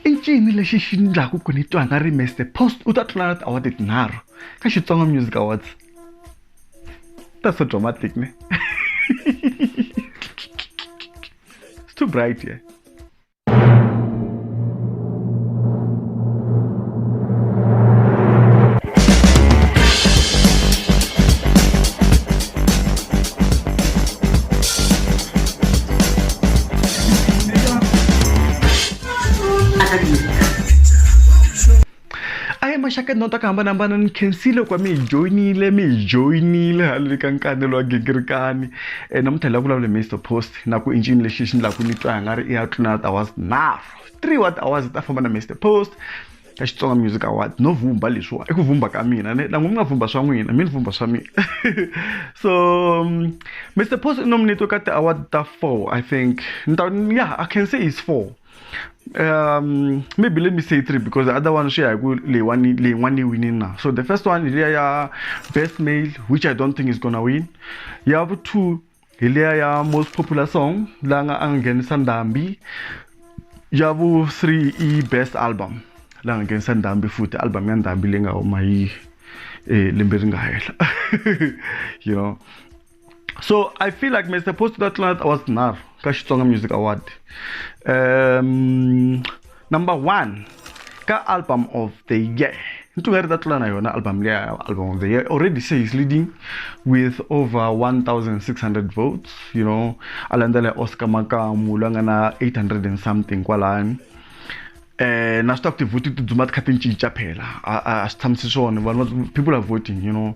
i ncini lexi xi ndlaku ku ni twa nga ri mr post u ta tlula na tiawadi tinharhu ka xitsonga music awards that's so dramatic ne it's too bright here yeah? maxaka ndhawu ta ku hambanahambana ni khensile ku va mi hi joyinile mi hi joyinile haleli ka nkanelo wa gigirikani um eh, namuntlha la vulavula mr post na ku i ncini lexi xi ni laku ni twa nga ri i ya tluna tihours nharhu three wa tihours ta famba na mr post ka xitsonga music award no vumba leswiwa i ku vumba ka mina ni na n'wi mi nga vumba swa n'wina mi ni vumba swa mina so mr um, post i nominate ka ti-award ta four i think ni ta yeah i can say is four um maybe let me say three because the other one share go le one le one winning now so the first one is yeah, best male which i don't think is gonna win you have two hi liya ya most popular song la nga a nghenisa ndhambi ya vu 3 i best album la nga nghenisa ndhambi futhi album ya ndhambi leyi nga huma hi eh, lembe ri nga hehla you know so i feel like mr post that was nar ka xitsonga music award um number one ka album of the year into nga ri ta tlula na yona album leya album of the year already say he's leading with over 1600 votes you know a landzela oscar makamu loyi a nga na 800 and something kwalani eh na swi ta ku tivhoti ti dzuma ti kha ti cinca phela a swi tshamisi swona vanhu people are voting you know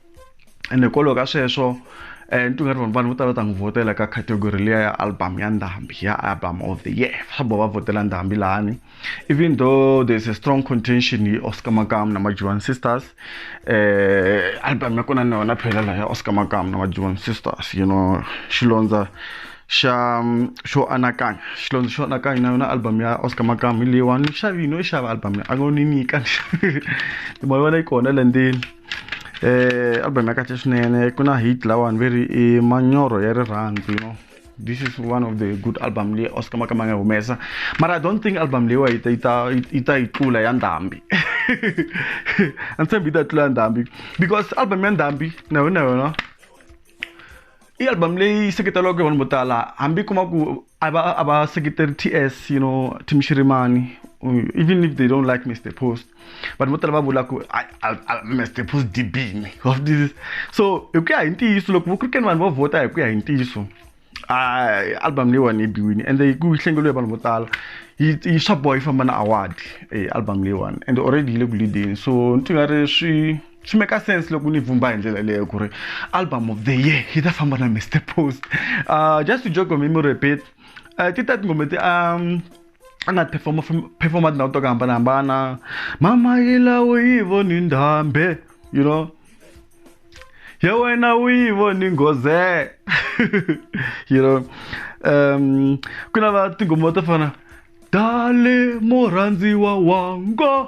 ende hikwalaho ka sweswo um eh, ni twingari vanhu vanhu vo tala va ta n'wi vhotela ka category liya ya album ya ndhambi ya album of the year swa boho va vhotela ndhambi lahani even though there's a strong contention hi oscar makam na majuan sisters um album ya kona na yona phela laha ya oscar makam na majuan sisters you know xilondza xa xo anakanya xilondza xo anakanya na yona album ya oscar makam hi leyiwani ni xavini no yi xava album ya a ngo ni nyika ni xavini ni ma vona yi kona landzeni eh album ya kahle swinene ku na hit lawani ve ri i manyoro ya rirhandzu you know this is one of the good album leyi oscar makama nga humesa mara i don't think album leyiwa yi ta yi ta yi ta yi tlula ya ndhambi a ni tshembi yi ta tlula ya ndhambi because album ya ndhambi na yona yona i album leyi seketelaka vanhu vo tala hambi kuma ku a va a va seketeri ts you know tim shirimani even if they don't like mr post vanhu vo tala va vula ku mr post dibini of this so hi ku ya hi ntiyiso loko vo krikeni vanhu va vhota hi ku ya hi ntiyiso album leyiwani yi biwini ende yi ku yi hlengeliwe vanhu vo tala yi swa boha yi famba na award album leyiwani and already yi le ku leadeni so ni ti nga ri swi swi make sense loko ni vumba hi ndlela leyo ku ri album of the year yi ta famba na mr post uh, just to joke me repeat uh, ti ta tingoma ti um a nga performa performa tindhawu to ku hambanahambana mama yi lawo yi voni ndhambe you know ya wena u yi voni nghoze you know um ku na va tinghoma to fana dale murhandziwa wanga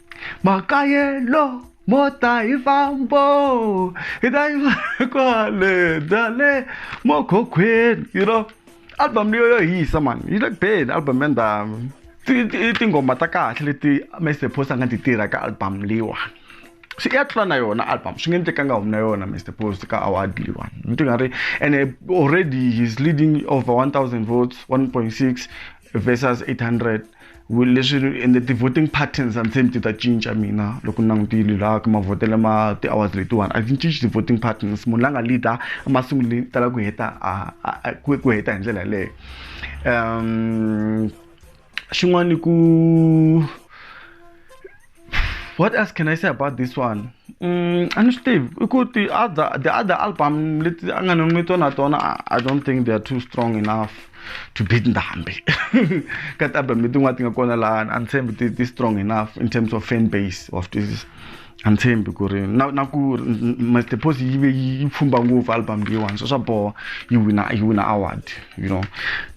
makayelo mo ta hi fambo hi ta yi fana kwale dale mo khokhweni you know album leyo yo hisa mani yi le ku beni album ya ndhawu i tinghoma ta kahle leti mr post a nga ti tirha ka album leyiwani swi ya tlula na yona album swi nge ni tekanga humi na yona mr post ka award leyiwani ni ti nga ri ene already he's leading over 1000 votes 1.6 versus 800 leswi ende ti-voting patterns and same ti ta cinca mina loko ni langutile laha ka mavhotelo ma ti-hours letiwani a ti cinci ti-voting patterns munhu la nga leader emasunguleni ti tala ku heta ku heta hi ndlela yaleyo um xin'wana ku what else can i say about this one mm, a ni swi tivi i ku ti other the other album leti a nga ni tona tona i don't think they are too strong enough to beat ndhambi ka ti-album letin'wana ti nga kona laha a ni tshembi ti ti strong enough in terms of fan base of this a ni tshembi ku ri na na ku mr pos yi ve yi pfumba ngopfu album leyiwani so swa boha yi wina yi wina award you know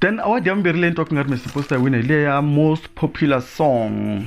then award ya vumbirhi leyi ni twa ku nga ri mr pos ta yi wina hi leya most popular song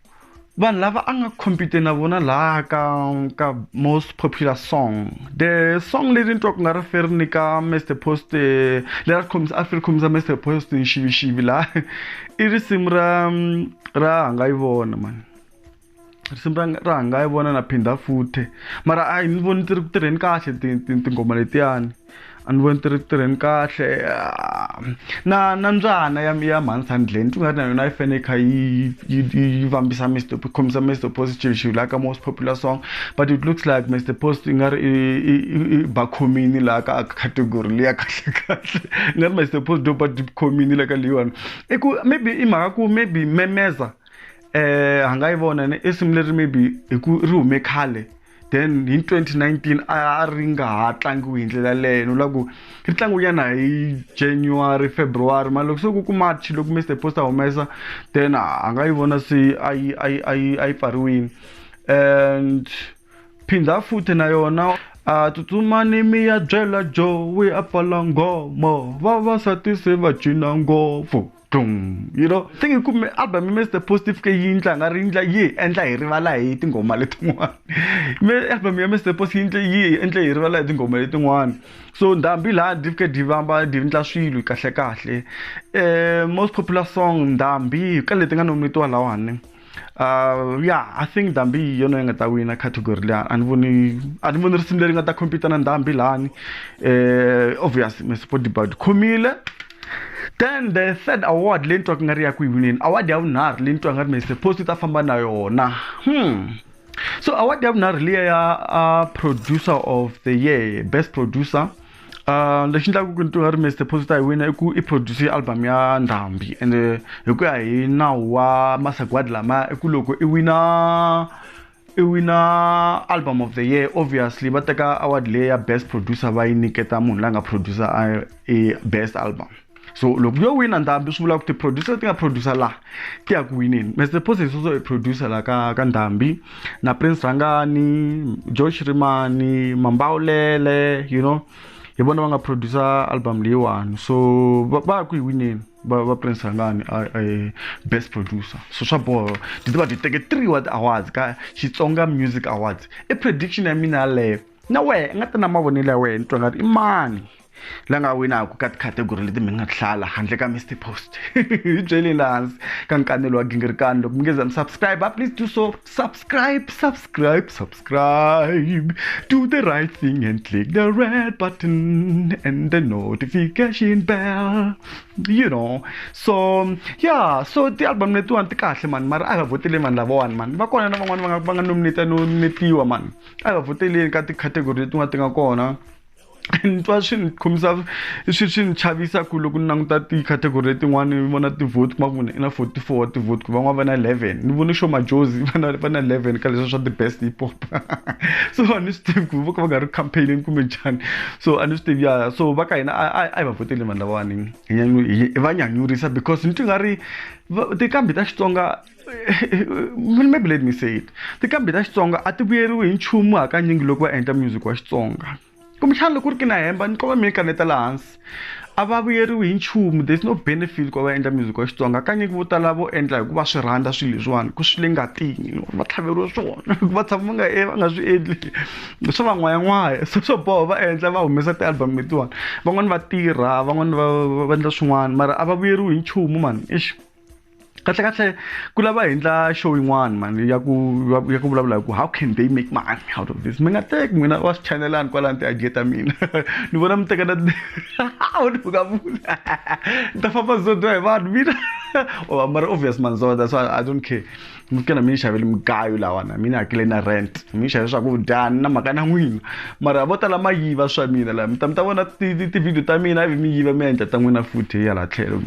vanhu lava a nga compete na vona laha ka ka most popular song the song leti ni twa ku nga ri feri ni ka mr post eh, leri khomisa a feri khomisa mr post nxivixivi laha i risimu ra ra hanga yi vona mani risimu ra ra hanga yi vona na phinda futhe mara a hi ni voni ti ri ku tirheni kahle tinghoma letiyani a ni voni ti ri ku tirheni kahle na na mbyana ya ya mhani sandleni ti nga ri na yona yi fanele kha yi yi yi vambisa Mister yi khomisa Mister Post xilo xilo laha ka most popular song but it looks like Mister Post i nga ri i i ba khomini laha ka category liya kahle kahle i nga ri Mister Post do ba khomini le ka leyiwani i ku maybe i mhaka ku maybe memeza a nga yi vona ne i risimu leri maybe hi ku ri hume khale. then hi 2019 a ri nga ha tlangiwi hi ndlela leyo ni vula ku ri tlangiwanyana hi january february mara loko se ku ku march loko mr post a humesa then a nga yi vona se a yi a yi a yi a yi pfariwile and phinda futhi na yona a tsutsumani mi ya byela joe wi a pfala nghomo vavasati se va cina ngopfu Dum. You know, se ngi kume album me the positive ke yi ndla nga ri ndla yi endla hi rivala hi tinghoma letin'wana me album ya Mr Positive yi endla hi rivala hi tinghoma letin'wana so ndhambi laha div ke divamba div ndla swilo kahle kahle eh most popular song ndhambi ka leti nga nomitiwa lahawani Uh, yeah i think ndhambi yi yona yi nga ta wina category leyi a ni voni a ni voni risimu leri nga ta compete na ndhambi lani eh obvious mesport debut khomile then the third award leyi ni twaka nga ri ya ku yi wineni award ya vunharhu leyi ni twaka nga ri mesepost yi ta famba na yona hmm so award ya vunharhu liya ya uh, producer of the year best producer Uh, lexi endlaka ku ntivo ya ri mr posita hi wina i ku i produce album ya ndhambi and hi ku ya hi nawu wa masagwadi lamaya i ku loko i wina i wina album of the year obviously va teka award leyi ya best producer va yi nyiketa munhu la nga producer i best album so loko yo wina ndhambi swi vula ku ti-producer leti nga producer laha ti ya ku wineni mr posies also i producer la ka ka ndhambi na prince rhangani josh rimani mambawulele you know hi vona va nga producer album leyiwani so va va ya ku yi wineni va va prince rhangani a- a- best producer so swa boho ti va ti teke three wa ti-awards ka xitsonga music awards i prediction ya mina yaleyo na wehe i nga ta na mavonelo ya wena ni twa ngati i mani la nga winaka ka tikhategori leti mi nga hlala handle ka mr post hi byeleni laha hansi ka nkanelo wa gingirikani loko mi nge za mi subscribe please do so subscribe subscribe subscribe do the right thing and click the red button and the notification bell you know so yeah so ti-album letiwani ti kahle mani mara a va vhoteleni vanhu lavawani mani va kona na van'wani va nga va nga nominate nominatiwa mani a va vhoteleni ka tikhategori letin'wana ti nga kona ni twa swi ni khomisa swi swi ni chavisa ku loko ni languta ti-category letin'wana ni vona ti-vote kuma ku i na forty four wa ti-vote ku van'wana va na eleven ni vone xo majozi va na va na eleven ka leswi swa the best hip hop so a ni swi tivi ku vo ka va nga ri campaign kumbe njhani so a ni swi tivi ya so va ka hina a hi va voteli vanhu lavawani hi va nyanyurisa because ni twi nga ri tiqambi ta xitsonga maybe let me say it tikambi ta xitsonga a ti vuyeriwi hi nchumu hakanyingi loko va endla music wa xitsonga kumbexana loko ri ki na hemba ni qova mi kaneta laha hansi a va vuyeriwi hi nchumu there's no benefit ku va va endla music wa xitsonga hakanyingi vo tala vo endla hikuva swi rhandza swilo leswiwani ku swi le ngatini va tlhaveriwa swona va tshama va nga e va nga swi endli swa van'wayan'waya se swo boha va endla va humesa ti-album letiwani van'wani va tirha van'wani va va endla swin'wana mara a va vuyeriwi hi nchumu mani exi kahle kahle ku lava hi endla show yin'wana mani ya ku ya ku vulavula hi ku how can they make money out of this mi nga teki n'wina wa swi chanelani kwalani ti-idea ta mina ni vona mi teka na uka vula ni ta famba zodwa hi vanhu mina mara obvious manzoda so i don't care mi fike na mi ni xaveli mugayo lawa na mi ni hakele na rent mi xave swakudya ni na mhaka na n'wina mara vo tala ma yiva swa mina laha mi ta mi ta vona tivhidiyo ta mina ivi mi yiva mi endla ta n'wina futhi hi hala tlhelo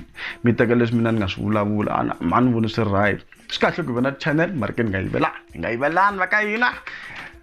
mi teka leswi mina ni nga swi vulavula ana ma ni voni swi ri right swi kahle ku hi va na channel mara ke ni nga yivelani hi nga yivelani va ka hina